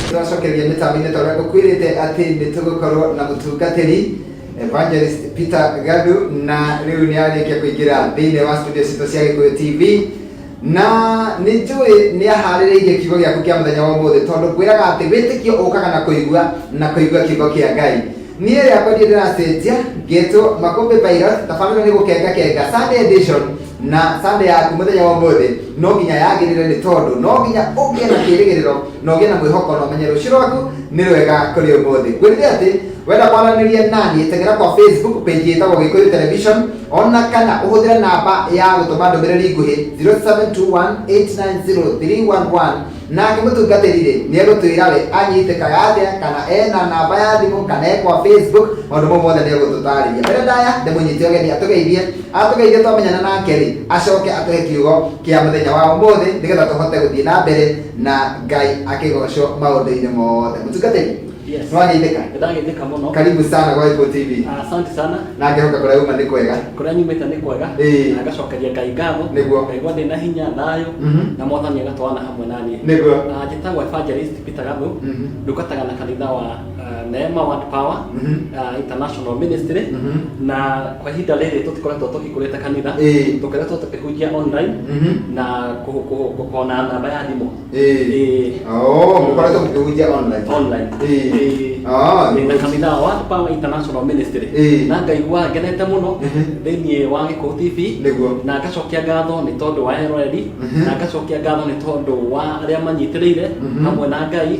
turacokeria mĩtambo-inĩ ta ũrĩa ngũkwĩrĩte atĩ nĩ tũgũkorwo na mũtungatĩri evangelist peter gadu na rĩu nĩ arĩkia kũingĩra thĩinĩ wa studio citũ cia gĩkũyũ tv Na nĩ njũĩ nĩ ahaarĩrĩirie kiugo gĩaku kĩa mũthenya wa ũmũthĩ, tondũ ngwĩraga atĩ wĩtĩkio ũkaga na kũigua, na kũigua kiugo kĩa Ngai. Niĩ rĩakwa ndirĩ ndĩracenjia, ngetwo Makũmbĩ Virus, tabarĩra nĩ gũkenga kenga. Sunday edition na Sunday yaku mũthenya wa ũmũthĩ no nginya yagĩrĩre nĩ tondũ no nginya ũgĩe na kĩĩrĩgĩrĩro. na ũgĩe na mwĩhoko na ũmenye rũciũ rwaku nĩ rwega kũrĩ ũmũthĩ ngwĩrire atĩ wenda kwaranĩria nani tengera kwa facebook page ĩtagwo gĩkũyũ television ona kana ũhũthĩre namba ya gũtũma ndũmĩrĩri nguhĩ 0721890311 nake mũtungatĩri rĩ nĩ egũtwĩra we anyitĩkaga atĩa kana ena namba ya thimũ kana e kwa facebook maũndũ mau mothe nĩ egũtũtarĩria mbere ndaya ndĩmũnyite ũgeni atũgeithie atũgeithie twamenyana nake rĩ acoke atũhe kiugo kĩa mũthenya wa ũmũthĩ nĩgetha tũhote gũthiĩ na mbere na ngai akĩgocwo maũndũ-inĩ mothe mũtungatĩri Yes. nĩwageithĩka Ndagĩthĩka mũno. karibu sana kwa Apple TV Asante sana. na ngehoka kũrĩa uma nĩ kwega Kũrĩa nyumĩte nĩ kwega. Ĩĩ. Na ngacokeria Ngai ngatho. Nĩguo. Ngaigua ndĩ na hinya, thayũ. Mhm. Na mwathani agatwarana hamwe na niĩ. Nĩguo. Ah, Njĩtagwo Evangelist Peter Gathu. Mhm. Ndungataga na kanitha wa uh, Neema Word Power uh, International Ministry na kwa ihinda rĩrĩ tũtikoretwo tũhingũrĩte kanitha Ĩĩ. tũkoretwo tũkĩhunjia online Mhm. na kũ- kũ- kũ- kũona namba ya thimũ Ĩĩ. Oh, mũkoretwo mũkĩhunjia online. online Ĩĩ. Ĩĩ. Ah, Nĩ na kanitha wa Word Power International Ministry Ĩĩ. na ngaigua ngenete mũno Mhm. thĩinĩ wa Gĩkũũ TV Nĩguo. na ngacokia ngatho nĩ tondũ wa eroreri Mhm. na ngacokia ngatho nĩ tondũ wa arĩa manyitĩrĩire Mhm. hamwe na Ngai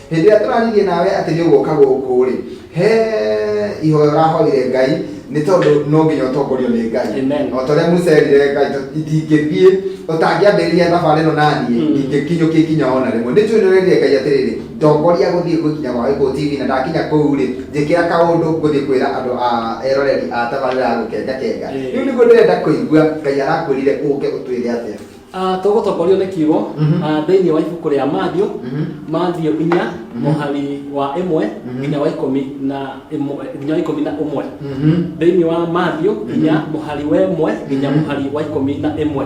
hĩndĩ ĩrĩa tũraririe nawe atĩ nĩ ũgũka gũkũ rĩ he ihoya ũrahoire ngai nĩ tondũ no nginya ũtongorio nĩ ngai Amen. o ta ũrĩa musa erire ngai "Tũ- itingĩthiĩ ũtangĩambĩrĩria thabarĩ ĩno naniĩ Mm. ingĩkinyũkia ikinya ona rĩmwe nĩ njuĩ nĩ werire ngai atĩrĩrĩ ndongoria gũthiĩ gũkinya gwa gĩkũ tv na ndakinya kũu rĩ njĩkĩra kaũndũ ngũthiĩ kwĩra andũ a eroreri a tabarĩra ya gũkengakenga Mm. rĩu nĩguo ndĩrenda kũigua ngai arakwĩrire ũke ũtwĩre atĩa Ah, tũgũtongorio nĩ kiugo ah, thĩinĩ wa ibuku rĩa mathiũ mathiũ inya mũhari wa ĩmwe nginya wa ikũmi na ĩmwe nginya wa ikũmi na ũmwe thĩinĩ wa mathiũ inya mũhari wa ĩmwe nginya mũhari wa ikũmi na ĩmwe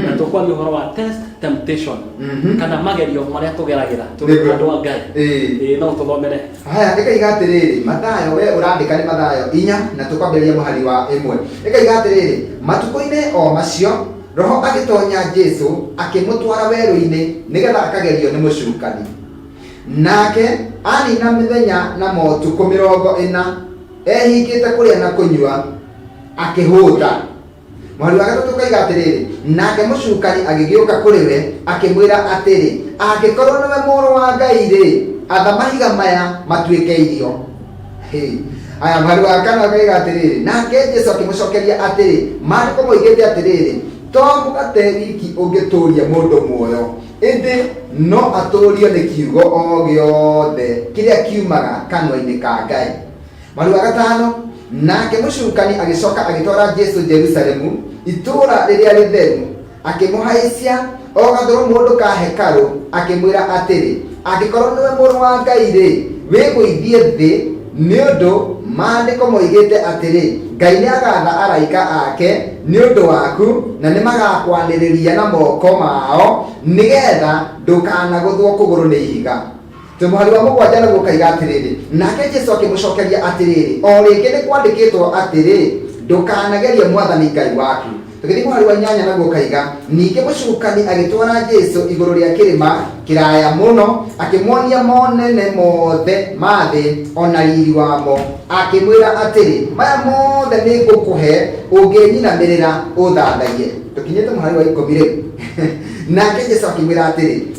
na tũkwaria ũhoro wa test temptation kana magerio marĩa tũgeragĩra tũrĩ Nĩguo. andũ a ngai Ĩĩ. Ĩĩ, no ũtũthomere haya ĩkaiga atĩrĩrĩ mathayo we ũrandĩka nĩ mathayo inya na tũkwambĩrĩria mũhari wa ĩmwe ĩkaiga atĩrĩrĩ matukũ-inĩ o macio Roho agĩtonya Jesu akĩmũtwara werũ-inĩ nĩgetha akagerio nĩ mũcukani. Nake anina mĩthenya na motukũ mĩrongo ĩna ehingĩte kũrĩa na kũnyua akĩhũta. Mũhari wa gatatũ ũkoiga atĩrĩrĩ, nake mũcukani agĩgĩũka kũrĩ we akĩmwĩra atĩrĩ, angĩkorwo nĩwe mũrũ wa Ngai-rĩ, atha mahiga maya matuĩke irio. Hey. aya mwari wa kana akaiga atĩrĩrĩ nake jesu akĩmũcokeria atĩrĩ maandĩko moigĩte atĩrĩrĩ to mũgate wiki ũngĩtũũria mũndũ muoyo ĩndĩ no atũũrio nĩ kiugo o gĩothe kĩrĩa kiumaga kanua-inĩ ka ngai mwari wa gatano nake mũcukani agĩcoka agĩtwara jesu jerusalemu itũũra rĩrĩa rĩtheru Akĩmũhaicia o gathũrũmũndũ ka hekarũ, akĩmwĩra atĩrĩ, Angĩkorwo nĩwe Mũrũ wa Ngai-rĩ, wĩgũithie thĩ, nĩ ũndũ Maandĩko moigĩte atĩrĩ, 'Ngai nĩagaatha araika ake nĩ ũndũ waku, na nĩmagakwanĩrĩria na moko mao, nĩ geetha ndũkanagũthwo kũgũrũ nĩ ihiga. Twĩ mũhari wa mũgwanja naguo ũkaiga atĩrĩrĩ nake jesu akĩmũcokeria atĩrĩrĩ o rĩngĩ nĩ kwandĩkĩtwo atĩrĩ ndũkanagerie mwathani ngai waku tũgĩthiĩ mũhari wa inyanya naguo ũkaiga ningĩ mũcukani agĩtwara jesu igũrũ rĩa kĩrĩma kĩraya mũno akĩmuonia monene mothe ma thĩ ona riri wamo akĩmwĩra atĩrĩ maya mothe nĩ ngũkũhe ũngĩnyinamĩrĩra ũthathaiye tũkinyĩte mũhari wa ikũmi rĩu nake jesu akĩmwĩra atĩrĩ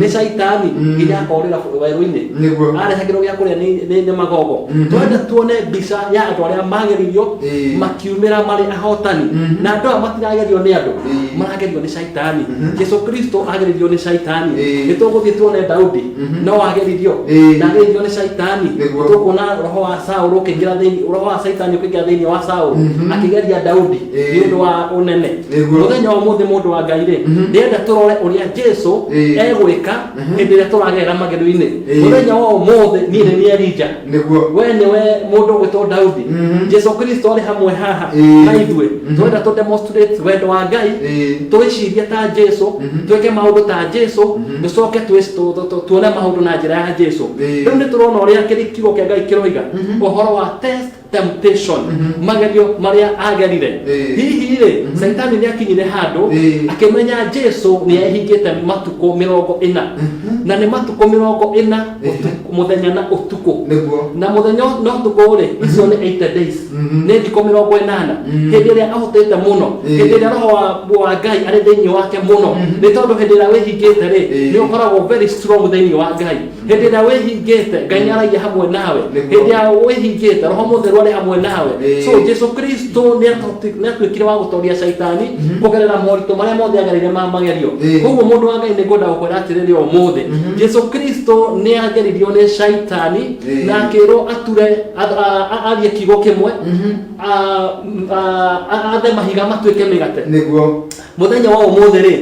nĩ caitani nginya akorĩra bũ- werũ-inĩ Nĩguo. arehagĩrwo gĩa kũrĩa nĩ- nĩ nĩ magogo twende tuone mbica ya andũ arĩa mageririo Ĩĩ. makiumĩra marĩ ahotani na andũ aya matiragerio nĩ andũ Ĩĩ. maragerio nĩ caitani jesu kristo ageririo nĩ caitani Ĩĩ. nĩ tũgũthiĩ tuone daudi no ageririo Ĩĩ. na ageririo nĩ caitani Nĩguo. tũkuona roho wa saũlũ ũkĩingĩra thĩinĩ roho wa caitani ũkĩingĩra thĩinĩ wa saũlũ akĩgeria daudi Ĩĩ. nĩ ũndũ wa ũnene Nĩguo. mũthenya wa ũmũthĩ mũndũ wa ngai rĩ Mhm. ndĩrenda tũrore ũrĩa jesu Ĩĩ. egwĩka Mhm. hĩndĩ ĩrĩa tũragerera magerio-inĩ Ĩĩ. mũthenya wa ũmũthĩ niĩ nĩ niĩ elija nĩguo we nĩwe mũndũ ũgwĩtwo daudi Mhm. jesu kristo arĩ hamwe haha Ĩĩ. na ithuĩ Mhm. tũrenda tũ demonstrate wendo wa ngai Ĩĩ. twĩcirie ta jesu Mhm. twĩke maũndũ ta jesu Mhm. tũcoke twĩ- tu- tu- tu- tuone maũndũ na njĩra ya jesu Ĩĩ. rĩu nĩ tũrona ũrĩa kĩrĩ kiugo kĩa ngai kĩroiga Mhm. ũhoro wa test temptation Mhm. magerio marĩa agerire Eh. hihi rĩ Mhm. saitani nĩ akinyire handũ Eh. akĩmenya jesu nĩ ehingĩte matukũ mĩrongo ĩna Mhm. na nĩ matukũ mĩrongo ĩna Eh. ũtukũ- mũthenya na ũtukũ nĩguo na mũthenya na ũtukũ rĩ icio nĩ 8 days Mhm. nĩ thikũ mĩrongo ĩnana Mhm. hĩndĩ ĩrĩa ahotete mũno Eh. hĩndĩ ĩrĩa roho wa- wa ngai arĩ thĩinĩ wake mũno Mhm. nĩ tondũ hĩndĩ ĩrĩa wĩhingĩte rĩ Eh. nĩ ũkoragwo very strong thĩinĩ wa ngai hĩndĩ ĩrĩa wĩhingĩte ngai nĩ aragia hamwe nawe Nĩguo. hĩndĩ ya wĩhingĩte roho mũtheru arĩ hamwe nawe Ĩĩ. so jesu kristo nĩ atu- nĩ atuĩkire wa gũtoria caitani kũgerera moritũ marĩa mothe agereire ma magerio Ĩĩ. koguo mũndũ wa ngai nĩ ngwenda gũkwĩra atĩrĩrĩ ũmũthĩ jesu kristo nĩ ageririo nĩ caitani Ĩĩ. na akĩrwo ature a- a- a- arie kiugo kĩmwe a- a- a- athe mahiga matuĩke mĩgate nĩguo mũthenya wa ũmũthĩ rĩ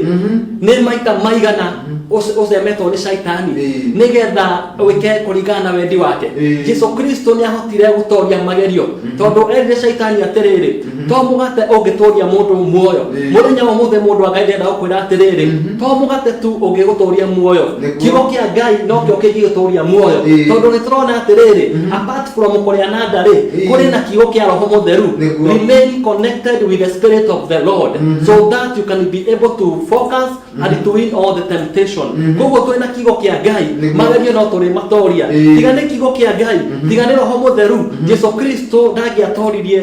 nĩ maita maigana ũce- ũcemetwo nĩ caitani Ĩĩ. nĩgetha wĩke kũringana na wendi wake Ĩĩ. jesu kristo nĩ ahotire gũtoria magerio tondũ erire caitani atĩrĩrĩ to mũgate ũngĩtũria mũndũ muoyo Ĩĩ. mũthenya wa ũmũthĩ mũndũ wa ngai ndenda gũkwĩra atĩrĩrĩ to mũgate tu ũngĩgũtũria muoyo Nĩguo. kiugo kĩa ngai nokĩo kĩngĩgũtũria muoyo Ĩĩ. tondũ nĩ tũrona atĩrĩrĩ apart from kũrĩananga rĩ Ĩĩ. kũrĩ na kiugo kĩa roho mũtheru Nĩguo. remain connected with the spirit of the lord so that you can be able to focus and to win all the temptation koguo twĩ na kiugo kĩa ngai Nĩguo. magerio no tũrĩ matoria Ĩĩ. tiga nĩ kiugo kĩa ngai tiga nĩ roho mũtheru jesu kristo ndangĩatoririe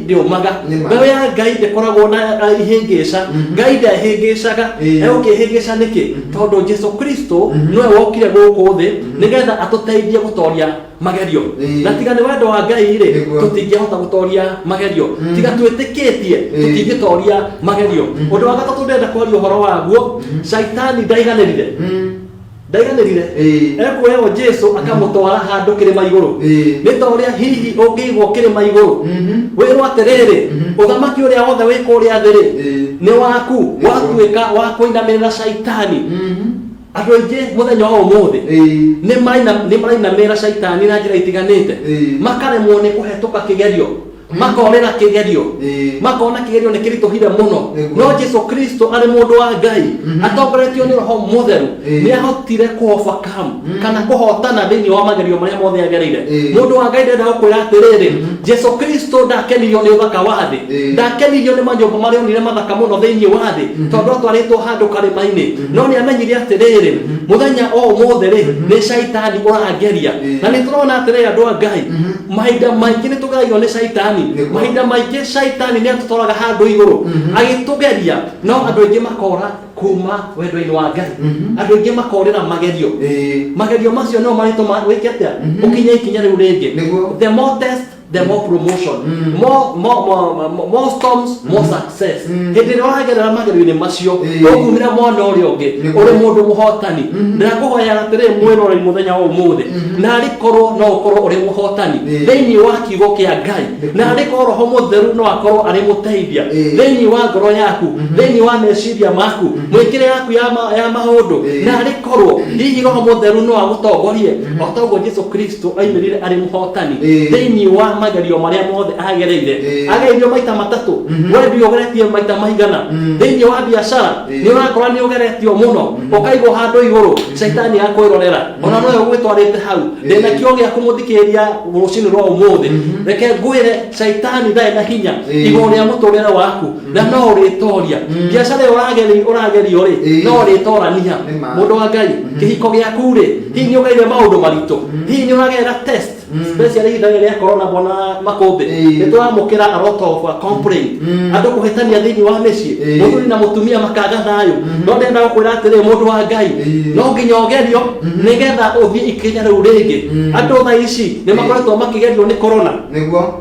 ndĩũmaga Nĩ ma. mbeũ ya ngai ndĩkoragwo na na ihĩngĩca ngai ndehĩngĩcaga Ĩĩ. egũkĩhĩngĩca nĩkĩ tondũ jesu kristo nĩwe wokire gũkũ thĩ nĩgetha atũteithie gũtoria magerio Ĩĩ. na tiga nĩ wendo wa ngai rĩ Nĩguo. tũtingĩhota gũtoria magerio tiga twĩtĩkĩtie Ĩĩ. tũtingĩtoria magerio ũndũ wa gatatũ ndĩrenda kwaria ũhoro waguo caitani ndaiganĩrire ndaiganĩrire Ĩĩ. ekuoyagwo jesu akamũtwara handũ kĩrĩma igũrũ Ĩĩ. nĩ ta ũrĩa hihi ũngĩigwo kĩrĩma igũrũ Mhm. wĩrwo atĩrĩrĩ Mhm. ũthamaki ũrĩa wothe wĩ kũrĩa thĩrĩ Ĩĩ. nĩ waku Nĩ watuĩka wa kũinamĩrĩra caitani Mhm. andũ aingĩ mũthenya wa ũmũthĩ Ĩĩ. nĩ maina- nĩ marainamĩrĩra caitani na njĩra itiganĩte Ĩĩ. makaremwo nĩ kũhetũka kĩgerio makonera kĩgerio Ĩĩ. makona kĩgerio nĩ kĩritũhire mũno Nĩguo. no jesu kristo arĩ mũndũ wa ngai atongoretio nĩ roho mũtheru Ĩĩ. nĩ ahotire kũhobakam kana kũhotana thĩinĩ wa magerio marĩa mothe agereire Ĩĩ. mũndũ wa ngai ndenda gũkwĩra atĩrĩrĩ jesu kristo ndakenirio nĩ ũthaka wa thĩ Ĩĩ. ndakenirio nĩ manyũmba marĩa onire mathaka mũno thĩinĩ wa thĩ tondũ atwarĩtwo handũ karĩma-inĩ no nĩ amenyire atĩrĩrĩ mũthenya o ũmũthĩ rĩ nĩ caitani ũrangeria Ĩĩ. na nĩ tũrona atĩrĩrĩ andũ a ngai mahinda maingĩ nĩ tũgeragio nĩ caitani Nĩguo. mahinda maingĩ caitani nĩ atũtwaraga handũ igũrũ Mhm. agĩtũgeria no andũ aingĩ makora kuma wendo-inĩ wa ngai Mhm. andũ aingĩ makorĩra magerio Ĩĩ. magerio macio nĩmo marĩtũma wĩke atĩa Mhm. ũkinye ikinya rĩu rĩngĩ Nĩguo. the more test the more promotion Mm. more, more, more, more, more storms more success success Mm. hĩndĩ ĩrĩa wagerera magerio-inĩ macio Ĩĩ. ũkumĩra mwena ũrĩa ũngĩ Nĩ ũrĩ mũndũ mũhotani ndĩrakũhoyaga atĩrĩ mwĩrorei mũthenya wa ũmũthĩ na arĩkorwo no ũkorwo ũrĩ mũhotani Ĩĩ. thĩinĩ wa kiugo kĩa ngai Nĩ- na arĩkorwo roho mũtheru no akorwo arĩ mũteithia Ĩĩ. thĩinĩ wa ngoro yaku thĩinĩ wa meciria maku mwĩkĩre yaku ya ma- ya maũndũ Ĩĩ. na arĩ korwo hihi roho mũtheru no agũtongorie o ta ũguo jesu kristo aimĩrire arĩ mũhotani Ĩĩ. thĩinĩ wa magerio marĩa mothe agereire Ĩĩ. agerio maita matatũ we ndio ũgeretie maita maigana thĩinĩ wa biacara Ĩĩ. nĩ ũrakora nĩ ũgeretio mũno ũkaigwo handũ igũrũ caitani akwĩrorera ona nowe ũgwĩtwarĩte hau ndĩ na Ĩĩ. kĩo gĩa kũmũthikĩrĩria rũcinĩ rwa ũmũthĩ reke ngwĩre caitani ndarĩ na hinya Ĩĩ. igũrũ rĩa mũtũrĩre waku na no ũrĩtoria Mm. biacara ĩyo ũrageri- ũragerio rĩ Ĩĩ. no ũrĩtorania Nĩ ma. mũndũ wa ngai Mhm. kĩhiko gĩaku rĩ hihi nĩ ũgereire maũndũ maritũ Mm. hihi nĩ ũragerera test Mm. special ihinda rĩrĩ rĩa corona bwana makũmbĩ Ĩĩ. nĩ tũramũkĩra a lot of uh, complaint Mm. andũ kũhĩtania thĩinĩ wa mĩciĩ Ĩĩ. mũthuri na mũtumia makaga thayũ Mhm. no ndenda gũkwĩra atĩrĩ mũndũ wa ngai Ĩĩ. no nginya ũgerio Mhm. nĩgetha ũthiĩ ikinya rĩu rĩngĩ Mm. andũ tha ici nĩ makoretwo makĩgerio nĩ corona nĩguo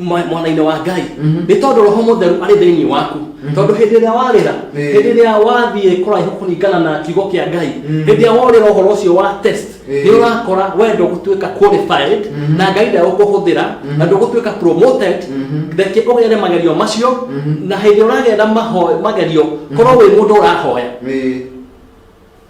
mwa- mwana-inĩ wa ngai Mhm. nĩ tondũ roho mũtheru arĩ thĩinĩ waku tondũ hĩndĩ ĩrĩa warĩra Eh. hĩndĩ ĩrĩa wathiĩ kũraihu kũringana na kiugo kĩa ngai Mm. hĩndĩ ĩrĩa worĩra ũhoro ũcio wa test Eh. nĩ ũrakora wendo gũtuĩka qualified Mhm. na ngai ndagũkũhũthĩra na ndũgũtuĩka promoted Mhm. reke ũgere magerio macio Mhm. na hĩndĩ ũragera maho- magerio korwo wĩ mũndũ ũrahoya Ĩĩ.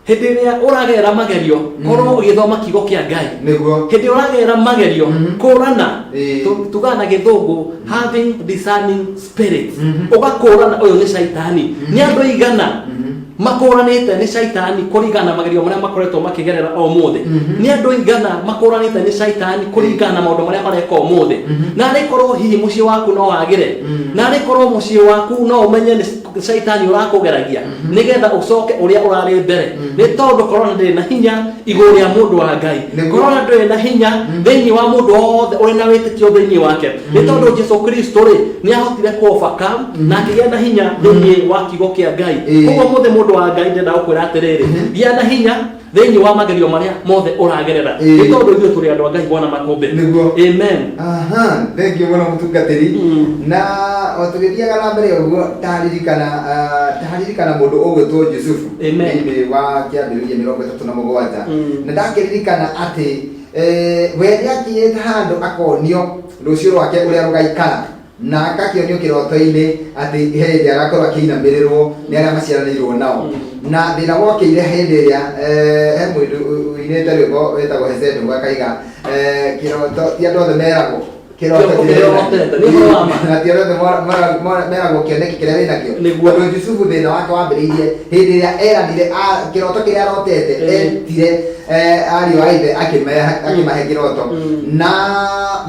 hĩndĩ ĩrĩa ũragerera magerio korwo ũgĩthoma kiugo kĩa ngai nĩguo hĩndĩ ĩrĩa ũragerera magerio Mhm. kũrana Ĩĩ. tu- tugaga na gĩthũngũ having discerning spirits Mhm. ũgakũrana ũyũ nĩ caitani nĩ andũ aigana Mhm. makũranĩte nĩ caitani kũringana na magerio marĩa makoretwo makĩgerera o mũthĩ Mhm. nĩ andũ aigana makũranĩte nĩ caitani kũringana na maũndũ marĩa mareka o mũthĩ Mhm. na arĩkorwo hihi mũciĩ waku no wagĩre Mhm. na arĩkorwo mũciĩ waku no ũmenye nĩ shaitani ũrakũgeragia nĩgetha ũcoke ũrĩa ũrarĩ mbere nĩ tondũ korona ndĩrĩ na hinya igũrũ rĩa mũndũ wa ngai Nĩguo. korona ndĩrĩ na hinya thĩinĩ wa mũndũ wothe ũrĩ na wĩtĩkio thĩinĩ wake nĩ tondũ jesu kristo rĩ nĩ ahotire kũobaka na akĩgĩa na hinya thĩinĩ wa kiugo kĩa ngai Ĩĩ. koguo mũthĩ mũndũ wa ngai ndĩrenda gũkwĩra atĩrĩrĩ gĩa na hinya thĩinĩ wa magerio marĩa mothe ũragerera Ĩĩ. nĩ tondũ ithuĩ tũrĩ andũ a ngai bwana makũmbĩ Nĩguo. amen aha thengio mũno mũtungatĩri Mm. na o tũgĩthiaga na mbere ũguo ndaririkana ah, ndaririkana mũndũ ũgwĩtwo jusufu Amen. thĩinĩ wa kĩambĩrĩria mĩrongo ĩtatũ na mũgwanja Mm. na ndakĩririkana atĩ eh, we nĩakinyĩte handũ akonio rũciũ rwake ũrĩa rũgaikara na agakĩonio kĩroto-inĩ atĩ he hĩndĩ agakorwo akĩinamĩrĩrwo nĩ arĩa maciaranĩirwo nao na thĩna wokĩire hĩndĩ ĩrĩa eh, he mũndũ ũinĩte rwĩmbo wĩtagwo hesende ũguo akaiga eh, kĩroto ti andũ othe meragwo kĩroto Kĩroto kĩrĩa kĩrĩa wĩnakĩo. ũrotete, nĩ ũhoro wa ma. na ti andũ othe mora- mora- mora- meragwo kĩoneki kĩrĩa wĩnakĩo Nĩguo. tondũ jusufu thĩna wake wambĩrĩirie hĩndĩ ĩrĩa eranire a- kĩroto kĩrĩa arotete Eh. etire eh, ariũ a ithe akĩmeha- akĩmahe kĩroto Mm. na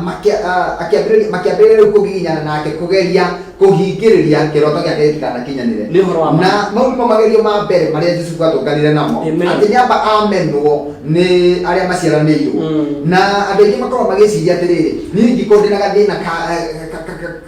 makia- ah, akĩambĩrĩria makĩambĩrĩria rĩu kũgiginyana nake kũgeria kũhingĩrĩria kĩroto gĩake gĩtikanakinyanĩre Nĩ ũhoro wa ma. na mau nĩmo magerio ma mbere marĩa Jusufu atũnganire namo Amen. atĩ nĩamba amenwo nĩ arĩa maciaranĩirwo Mm. na andå aingä makorwo magä ciria atä rä rä niä ingä korwo ndä na gathä na ka- ka- ka- ka-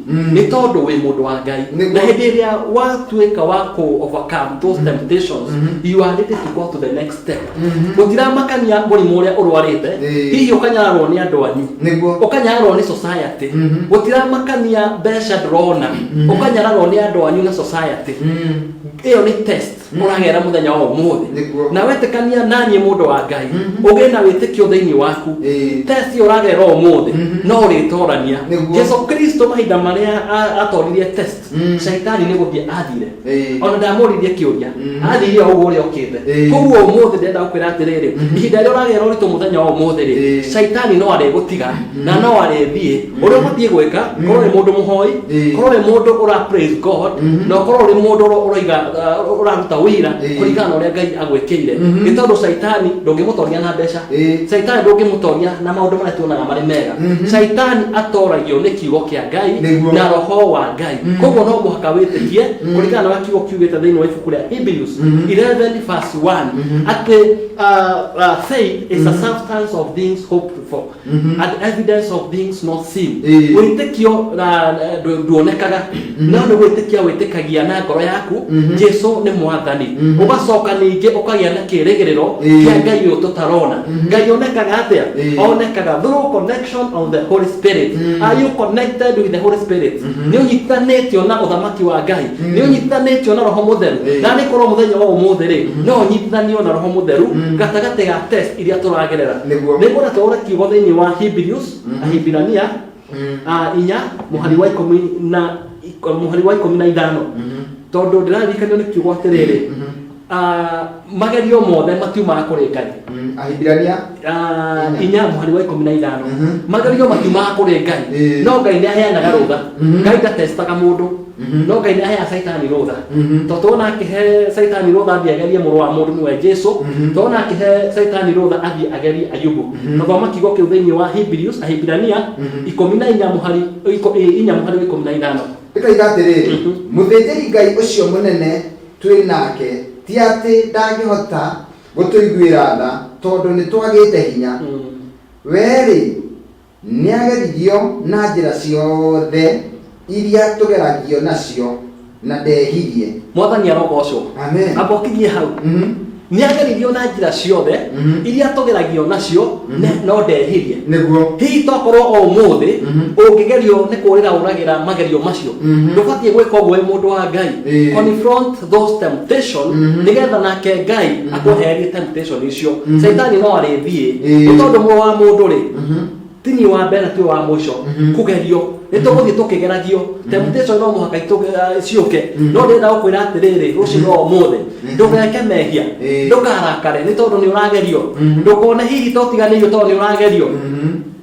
Mm. nĩ tondũ wĩ mũndũ wa ngai Nĩguo. na hĩndĩ ĩrĩa watuĩka wa kũ overcome those temptations Mhm. you are ready to go to the next step Mhm. gũtiramakania mũrimũ ũrĩa ũrwarĩte Ĩĩ. hihi ũkanyararwo nĩ andũ anyu nĩguo ũkanyararwo nĩ society Mhm. gũtiramakania mbeca ndũrona Mhm. ũkanyararwo nĩ andũ anyu na society Mm. ĩyo nĩ test mũragera mũthenya wa ũmũthĩ Nĩguo. na wetĩkania naniĩ mũndũ wa ngai Mhm. ũgĩe na wĩtĩkio thĩinĩ waku Ĩĩ. testi ũragera ũmũthĩ Mhm. no ũrĩtorania Nĩguo. jesu kristo mahinda marĩa a- atoririe test Mm. shaitani nĩ gũthiĩ athire Ĩĩ. ona ndamũririe kĩũria Mhm. athire o ũguo ũrĩa okĩte Ĩĩ. koguo ũmũthĩ ndenda gũkwĩra atĩrĩrĩ Mhm. ihinda rĩrĩa ũragera ũritũ mũthenya wa ũmũthĩ rĩ Ĩĩ. shaitani no arĩgũtiga na no arĩthiĩ ũrĩa ũbatiĩ gwĩka korwo nĩ mũndũ mũhoi Eh. korwo nĩ mũndũ ũra praise god Mhm. na korwo nĩ mũndũ ũra- ũraiga uh, ũraruta wĩra Eh. kũringana na ũrĩa ngai agwĩkĩire Mhm. nĩ tondũ caitani ndũngĩmũtoria na mbeca Eh. caitani ndũngĩmũtoria na maũndũ marĩa tuonaga marĩ mega Mhm. caitani atoragio nĩ kiugo kĩa ngai Nĩguo. na roho wa ngai Mhm. koguo no mũhaka wĩtĩkie Mhm. kũringana na ũrĩa kiugo kiugĩte thĩinĩ wa ibuku rĩa hebrews Mhm. 11 verse 1 Mhm. atĩ uh, uh, faith is a substance of things hoped for Mhm. and evidence of things not seen Ĩĩ. wĩtĩkio na na- ndũ- nduonekaga no nĩ gwĩtĩkia wĩtĩkagia na ngoro yaku Mhm. jesu nĩ mwathani Mhm. ũgacoka ningĩ ũkagĩa na kĩrĩgĩrĩro Ĩĩ. kĩa ngai ũyũ tũtarona Mhm. ngai onekaga atĩa Ĩĩ. onekaga through connection of the holy spirit Mhm. are you connected with the holy spirit Mhm. nĩ ũnyitanĩtio na ũthamaki wa ngai Mhm. nĩ ũnyitanĩtio na roho mũtheru Ĩĩ. na nĩ korwo mũthenya wa ũmũthĩ rĩ no ũnyitithanio na roho mũtheru Mhm. gatagatĩ ga test iria turagerera Nĩguo. niguo natore kiugo thiini wa Hebrews Ahibirania ah, inya muhari wa ikumi na ik- muhari wa ikumi na ithano tondu ndiraririkanio ni kiugo atiriri ah, magerio mothe matiumaga kuri ngai ahibirania Ah, Inya. inya muhari wa ikumi na ithano Mhm. magerio matiumaga kuri ngai Ĩĩ. no ngai nĩ aheanaga rũtha Mhm. ngai ndatestaga mũndũ Mhm. no ngai nä ahea caitani rå tha Mhm. to tona akä he caitani rå tha athiä agerie må rå wa må ndå nä we jesu Mhm. tona akä he caitani rå tha athiä agerie ayubu Mhm. na thoma kiugo kä u thä inä wa Hebrews- ahibirania Mhm. ikå na inya mũhari iko- ĩ, inya må harä wa ikå mi na ithano ĩkoiga atĩrĩ Mhm. mũthĩnjĩri ngai ũcio mũnene twĩ nake ti atĩ ndangĩhota gũtũiguĩra tha tondũ nĩ twagĩte hinya Mm. werĩ Nĩageririo na njĩra ciothe iria tũgeragio nacio, na ndehirie. Mwathani arogoocwo. Amen. Amba ũkinyie hau. Mhm. Nĩageririo na njĩra ciothe Mhm. iria tũgeragio nacio Mhm. ne- no ndehirie. Nĩguo. Hihi tokorwo o ũmũthĩ Mhm. ũngĩgerio nĩ kũũrĩra ũragĩra magerio macio Mhm. ndũbatiĩ gwĩka ũguo wĩ mũndũ wa Ngai. Ĩĩ. Confront those temptation Mhm. nigetha nake ngai Mhm. akwehererie temptation icio Mhm. caitani no arĩthiĩ Ĩĩ. nĩ tondũ muoyo wa mũndũ rĩ Mhm. tini wa mbere tuĩ wa mũico Mhm. kũgerio nĩ tũgũthiĩ tũkĩgeragio temptation no mũhaka itũ- eh, ciũke Mhm. no ndĩrenda gũkwĩra atĩrĩrĩ rũciinĩ wa ũmũthĩ Mhm. ndũgeke mehia Ĩĩ. ndũkarakare nĩ tondũ nĩ ũragerio Mhm. ndũkone hihi totiganĩirio tondũ nĩ ũragerio Mhm.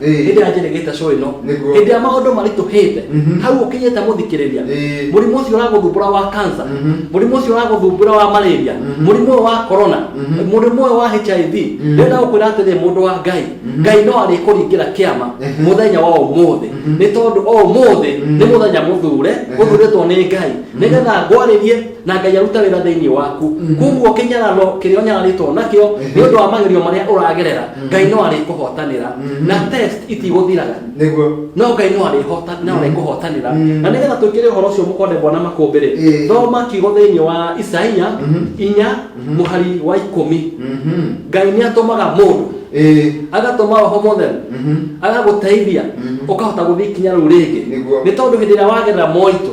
Ĩĩ. hĩndĩ ĩrĩa njĩrĩgĩte cũ ĩno Nĩguo. hĩndĩ ĩrĩa maũndũ maritũhĩte Mhm. hau ũkinyĩte mũthikĩrĩria Ĩĩ. mũrimũ ũcio ũragũthumbũra wa kansa Mhm. mũrimũ ũcio ũragũthumbũra wa malaria Mhm. mũrimũ ũyũ wa korona Mhm. mũrimũ ũyũ wa hiv Mhm. rĩrĩa gũkwĩra atĩrĩ mũndũ wa ngai Mhm. ngai no arĩkũringĩra kĩama Mhm. mũthenya wa ũmũthĩ Mhm. nĩ tondũ o ũmũthĩ Mhm. nĩ mũthenya mũthure Ehe. ũthurĩtwo nĩ ngai nĩgetha ngwarĩrie na ngai aruta wĩra thĩinĩ waku koguo kĩnyararo kĩrĩa ũnyararĩtwo nakĩo nĩ ũndũ wa magerio marĩa ũragerera ngai no arĩkũhotanĩra na test itigũthiraga nĩguo no ngai no arĩhota no arĩkũhotanĩra Mm. na nĩgetha twĩkĩre ũhoro ũcio mũkondembwa na makũmbĩ rĩ Ĩĩ. thoma kiugo thĩinĩ wa isaia Mhm. inya mũhari wa ikũmi Mhm. ngai nĩ atũmaga mũndũ Ĩĩ. agatũma roho mũtheru Mhm. agagũteithia Mhm. ũkahota gũthiĩ ikinya rĩu rĩngĩ Nĩguo. nĩ tondũ hĩndĩ ĩrĩa wagerera moritũ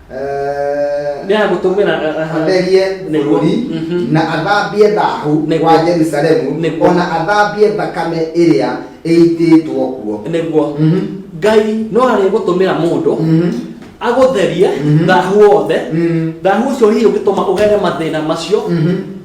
Eh, Nĩ agũtũmĩra, eh, aha. atherie Nĩguo. bũrũri Mhm. na athambie thahu Nĩguo. wa jerusalemu Nĩguo. ona athambie thakame ĩrĩa ĩitĩtwo kuo nĩguo Mhm. ngai no arĩgũtũmĩra mũndũ Mhm. agũtherie Mhm. thahu wothe Mhm. thahu ũcio hihi ũngĩtũma ũgere mathĩna macio Mhm.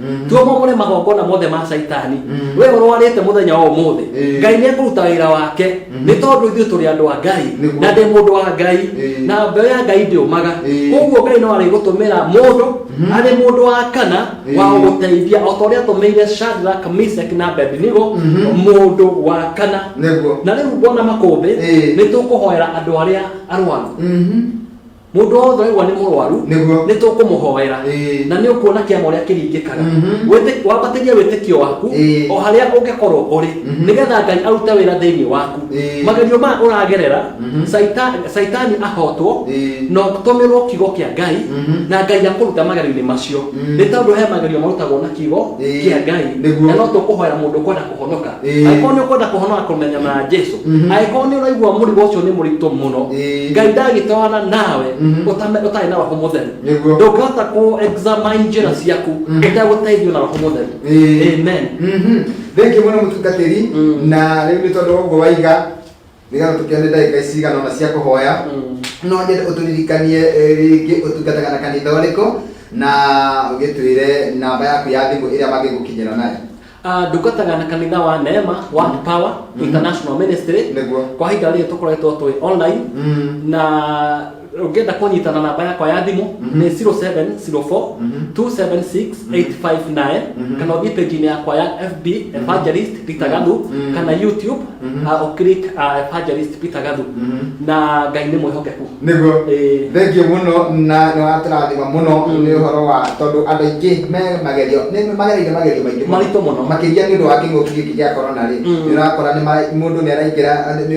Mm. tuo momore magongona mothe ma caitani Mm. we ũrwarĩte mũthenya wa ũmũthĩ Eh. ngai nĩ ekũruta wĩra wake Mhm. nĩ tondũ ithuĩ tũrĩ andũ a ngai Nĩguo. na ndĩ mũndũ wa ngai Eh. na mbeũ ya ngai ndĩũmaga Eh. koguo ngai no arĩgũtũmĩra mũndũ Mhm. arĩ mũndũ wa kana wa Eh. gũgũteithia o ta ũrĩa atũmĩire shadrack misek na abednego Mhm. mũndũ wa kana Nĩguo. na rĩu bona makũmbĩ Eh. nĩ tũkũhoera andũ arĩa arwaru Mhm. mũndũ wothe waigua nĩ mũrwaru Nĩguo. nĩ tũkũmũhoera Ĩĩ. na nĩ ũkuona kĩama ũrĩa kĩringĩkaga Mhm. Wĩtĩ- wambatĩrie wĩtĩkio waku Ĩĩ. o harĩa ũngĩkorwo ũrĩ Mhm. nĩgetha ngai arute wĩra thĩinĩ waku Ĩĩ. magerio maya ũragerera Mhm. Saita- saitani ahotwo Ĩĩ. na ũtũmĩrwo kiugo kĩa ngai Mhm. na ngai akũruta magerio-inĩ macio Mm. nĩ tondũ he magerio marutagwo na kiugo Ĩĩ. kĩa ngai Nĩguo. na no tũkũhoera mũndũ kwenda kũhonoka Ĩĩ. angĩkorwo nĩ ũkwenda kũhonoka kũmenya na jesu Mhm. angĩkorwo nĩ ũraigua mũrigo ũcio nĩ mũritũ mũno Ĩĩ. ngai ndagĩtwarana nawe Mhm. ũtame- ũtarĩ na roho mũtheru Nĩguo. ndũngĩhota kũ examine njĩra ciaku Mhm. ũtegũteithio na roho mũtheru Ĩĩ. amen Mhm. thenki mũno mũtungatĩri Mm. na rĩu nĩ tondũ wa ũguo waiga nĩgetha tũkĩone ndagĩka ici cigana ona cia kũhoya no nyende ũtũririkanie eh, rĩngĩ ũtungataga na kanitha ũrĩkũ na ũgĩtwĩre namba yaku ya thimũ ĩrĩa mangĩgũkinyĩra nayo Ah, ndungataga na kanitha wa neema one power international ministry nĩguo kwa ihinda rĩrĩ tũkoretwo twĩ online Mm. na ũngĩenda kũnyita na namba yakwa ya thimũ nĩ 0704 276 859 kana ũthiĩ page-inĩ yakwa ya fb evangelist peter gathu kana youtube ah, ũclick ah, evangelist peter gathu na ngai nĩ mwĩhokeku niguo Ĩĩ. thengio muno na niwaturathima muno ni uhoro wa tondu andu aingi me magerio ni magereire magerio maingi Maritũ mũno. makiria ni undu wa king'uki giki gia corona ri ni urakora ni mundu ni araingira ni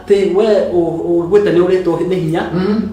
Atĩ we ũiguĩte nĩ ũrĩtwo nĩ hinya,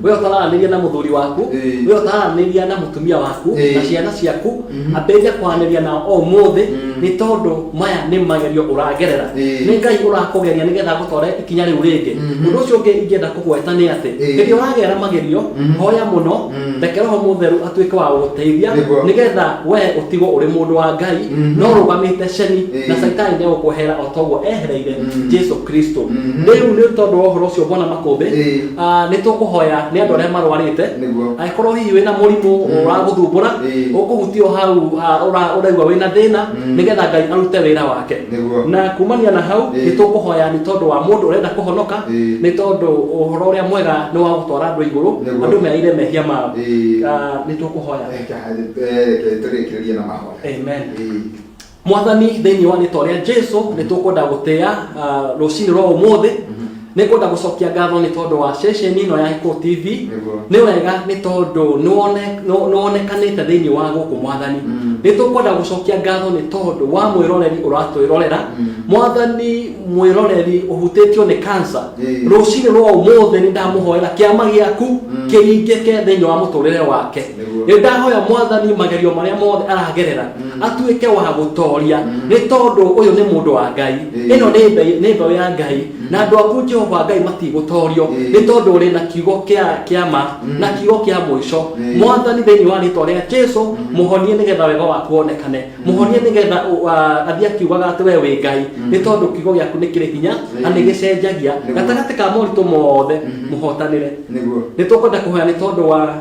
we ũtararanĩria na mũthuri waku, we ũtararanĩria na mũtumia waku, na ciana ciaku, ambĩrĩria kwaranĩria nao o ũmũthĩ, nĩ tondũ maya nĩ magerio ũragerera. Nĩ Ngai ũrakũgeria nĩgetha agũtware ikinya rĩu rĩngĩ. Ũndũ ũcio ũngĩ ingĩenda kũgweta nĩ atĩ, hĩndĩ ĩrĩa ũragerera magerio, hoya mũno, reke Roho Mũtheru atuĩke wa gũgũteithia, nĩgetha we ũtigwo ũrĩ mũndũ wa Ngai, na ũrũgamĩte ceni, na caitani nĩ egũkweherera o ta ũguo ehereire Jesu. kristo Mhm. rĩu nĩ tondũ wa ũhoro ũcio mwana makũmbĩ Ĩĩ. ah, nĩ tũkũhoya nĩ andũ arĩa marwarĩte Nĩguo. angĩkorwo hihi wĩna mũrimũ ũragũthumbũra Ĩĩ. ũkũhutio hau ah, ũra- ũraigua wĩna thĩna Mm. nĩgetha ngai arute wĩra wake Nĩguo. na kumania na hau Ĩĩ. nĩ tũkũhoya nĩ tondũ wa mũndũ ũrenda kũhonoka Ĩĩ. nĩ tondũ ũhoro ũrĩa mwega nĩ wa gũtwara andũ igũrũ Nĩguo. andũ meaire mehia mao Ĩĩ. Ah, nĩ tũkũhoya Reke- eh, reke tũrĩkĩrĩrie na mahoya Amen. Ĩĩ. mwathani thĩinĩ wa rĩtwa rĩa jesu nĩ tũkwenda gũtĩa uh, rũcinĩ rwa ũmũthĩ nĩ kwenda gũcokia ngatho nĩ tondũ wa ceceni ĩno ya Hiko tv Nĩguo. nĩ wega nĩ tondũ nĩ wone- nĩ- nĩ wonekanĩte thĩinĩ wa gũkũ mwathani Mm. nĩ tũkwenda gũcokia ngatho nĩ tondũ wa mwĩroreri ũratwĩrorera Mm. mwathani mwĩroreri ũhutĩtio nĩ kansa Ĩĩ. rũcinĩ rwa ũmũthĩ nĩ ndamũhoera kĩama gĩaku Mm. kĩringĩke thĩinĩ wa mũtũrĩre wake Nĩguo. nĩ ndahoya mwathani magerio marĩa mothe aragerera atuĩke wa gũtoria nĩ tondũ ũyũ nĩ mũndũ wa ngai Ĩĩ. ĩno nĩ mbe- nĩ mbeũ ya ngai na andũ aku jehova ngai matigũtorio Ĩĩ. nĩ tondũ ũrĩ na kiugo kĩa kĩa ma na kiugo kĩa mũico Ĩĩ. mwathani thĩinĩ wa rĩtwa rĩa jesu mũhonie nĩgetha wega waku wonekane mũhonie nĩgetha ũ- a- athiĩ akiugaga atĩ we wĩ ngai nĩ tondũ kiugo gĩaku nĩ kĩrĩ hinya na Ĩĩ. nĩ gĩcenjagia Nĩguo. gatagatĩ ka moritũ mothe mũhotanĩre nĩguo nĩ tũkwenda kũhoya nĩ tondũ wa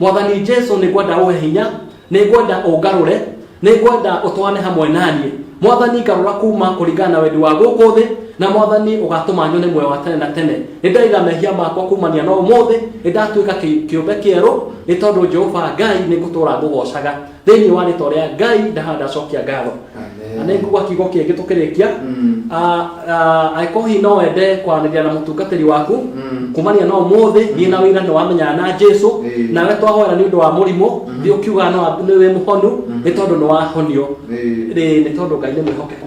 mwathani jesu nĩ ngwenda ũhe hinya nĩ ngwenda ũngarũre nĩ ngwenda ũtwarane hamwe naniĩ mwathani ngarũra kuma kũringana na wendi wa gũkũ thĩ na mwathani ũgatũma nyone muoyo wa tene na tene nĩ ndaiga mehia makwa kumania na ũmũthĩ nĩ ndatuĩka kĩ- kĩũmbe kĩerũ nĩ tondũ jehova ngai nĩ ngũtũra ngũgocaga thĩinĩ wa rĩtwa rĩa ngai ndaha ndacokia ngatho na nĩ ngugua kiugo kĩngĩ tũkĩrĩkia Mm. Ah, ah, angĩkorwo hihi no wende kwaranĩria na mũtungatĩri waku Mm. kumania na ũmũthĩ thiĩ na wĩra nĩ wamenyana na jesu Ĩĩ. nawe twahoera nĩ ũndũ wa mũrimũ thiĩ ũkiugaga nĩ wa- nĩ wĩ mũhonu nĩ tondũ nĩ wahonio Ĩĩ. Rĩ, nĩ tondũ ngai nĩ mwĩhokeku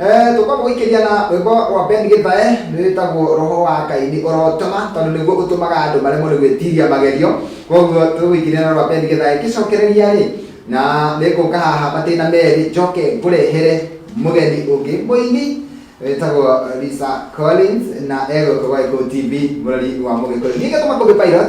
Eh, tũkwamba gũikĩria na rwĩmbo rwa Ben Gĩthae rwĩtagwo roho wa Ngai nĩ ũrotema tondũ nĩguo ũtũmaga andũ maremwo nĩ gwĩtiria magerio koguo tũgũikĩria na rwa Ben Gĩthae ngĩcokereria rĩ na nĩngũka haha matĩna merĩ njoke ngũrehere mũgeni ũngĩ mũini wĩtagwo Lisa Collins na egũkũ gwa Gĩkũyũ TV mũrori wa Mũgĩkũyũ ningĩ tũmakũmbĩ pilot